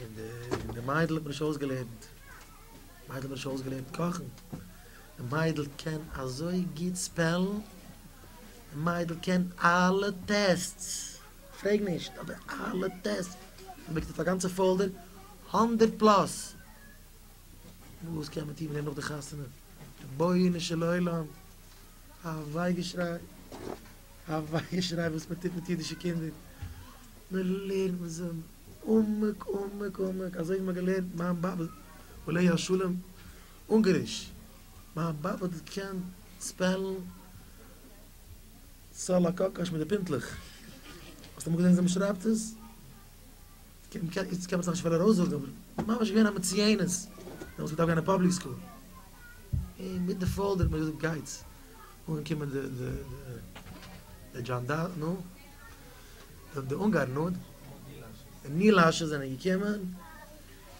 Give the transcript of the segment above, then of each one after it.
און די און די מיידל האט מיר נישט אויסגעלערנט די מיידל האט מיר נישט אויסגעלערנט קאכן די מיידל קען אזוי גוט ספעלן די מיידל קען אלע טעסטס פרעג נישט אבער אלע טעסטס זי מעקט אויף א גאנצע פאלדער הונדערט פלאס וואס קען מען טון מיט דעם נאך די חתונה רבונו של עולם א וויי געשריי א וויי געשריי וואס מען טוט מיט אידישע קינדער מען לערנט מיט זיי עמוק עמוק עמוק אזוי ווי מען האט געלערנט מיין באבע עליה השלום אונגעריש, מיין באבע האט געקענט ספעלן סאלאקאקאש מיט די פינטלעך, האסט אמאל געזען וויאזוי מען שרייבט עס? איצט קען מען עס נאכנישט פיל ארויסזאגן אבער ממש געווען א מצויינת, דעמאלטס געדארפט גיין אין פאבליק סקול, און מיט די פאדער האט מען געזאגט גייטס אנקומען די די די דזשאנדארן, נו? זאגט די אונגארן אד. די נילאשע זענען געקומען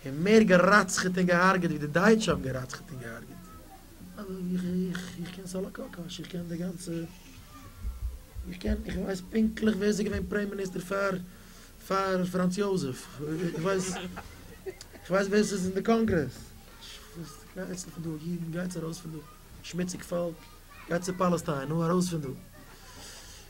און מער געראצכעט און געהארגעט ווי די דייטשע האבן געראצכעט און געהארגעט. איך קען סאלאקאקאש, איך קען די גאנצע, איך קען, איך ווייס פונקטליך ווער ס'איז געווען פרעימ מיניסטער פאר פאר פראנץ יוזעף, איך ווייס, איך ווייס ווער ס'איז אין די קאנגרעס. גייטס פון דא אידן, גייטס ארויס פון דא, שמוציג פאלק, גייטס צו פאלעסטיין, נו ארויס פון דא.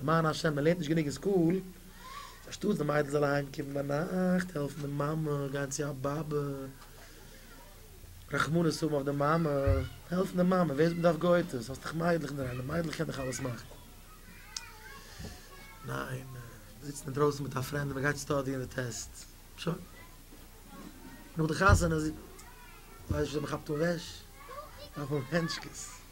למען השם מען לערנט נישט גענוג אין סקול, אנשטאטס די מיידל זאל אהיים קומען ביינאכט העלפן די מאמע גיין צו א באבע, רחמנות האבן אויף די מאמע, העלפן די מאמע, ווער דארף גוי'טעס, האסט דאך מיידלעך אינדערהיים, די מיידלעך קען דאך אלעס מאכן. ניין, מען זיצט אינדרויסן מיט א פרענד און מען גייט סטאדיען די טעסט, שוין. נאך די חתונה ווייסט נישט ווי מען כאפט אן וועש, דארף מען האבן הענטשקעס.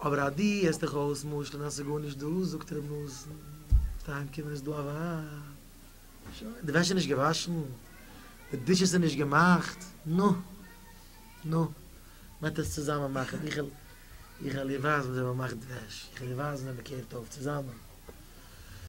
אבער אז דו הערסט דיך אויס משל'ן אז ס'איז גארנישט דא, זאגט ר' נתן, וועסטו אהיימקומען איז דא א ווייב. שוין, די וועש איז נישט געוואשן, די דישעס איז נישט געמאכט, נו, נו, מ'עט עס צוזאמען מאכן, איך וועל דיר ווייזן ווי אזוי מ'מאכט וועש, איך וועל דיר ווייזן ווי מ'קערט אויף צוזאמען.